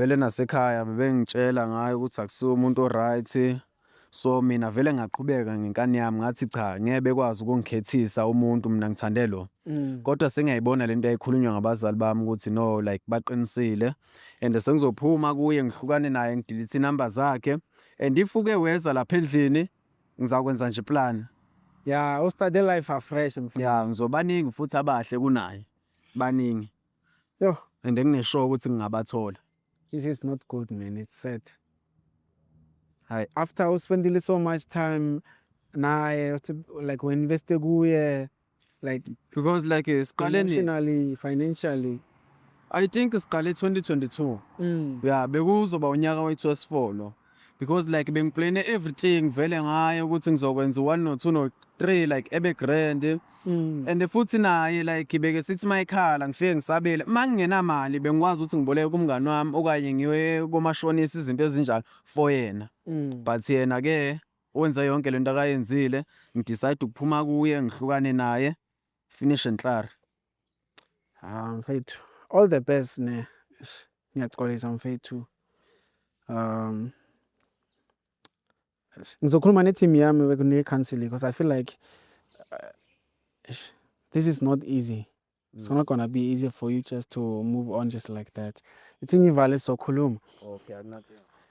Vele nasekhaya bebengitshela ngayo ukuthi akusiwo umuntu o-right. So mina vele ngaqhubeka ngenkani yami ngathi cha ngeke bekwazi ukungikhethisa umuntu mina ngithande lo. Mm. Kodwa sengiyayibona lento eyayikhulunywa ngabazali bami ukuthi no like baqinisile and sengizophuma kuye ngihlukane naye ngidelete inumber zakhe and if uke weza lapha endlini ngizakwenza nje plan. Yeah, u-start a life afresh mfana. Yeah, ngizobaningi futhi abahle kunaye. Baningi. Yo, and engineshow ukuthi ngingabathola. This is not good man, it's sad. Hayi, after u spendile so much time naye uthi- like we invest kuye like because like eh, siqale ni- emotionally, financially. I think siqale 2022. Mm. Yeah, bekuzoba unyaka wethu wesifolo. because like bengiplane everything vele ngaye ukuthi ngizokwenza one no two no three like ebe grand mm. and futhi naye like beke sithi mayikhala ngifike ngisabele mangingenamali bengikwazi ukuthi ngiboleke kumngani wami okanye ngiwe komashonisa izinto ezinjalo for yena mm. but yena ke wenza yonke lento akayenzile ngidecide ukuphuma kuye ngihlukane naye finish and klaar ah mfethu all the best ne ngiyaxolisa mfethu um ngizokhuluma ne-team yami ne-counseling because i feel like uh, this is not easy it's mm. not gonna be easy for you just to move on just like that ithi ngivale sizokhuluma okay,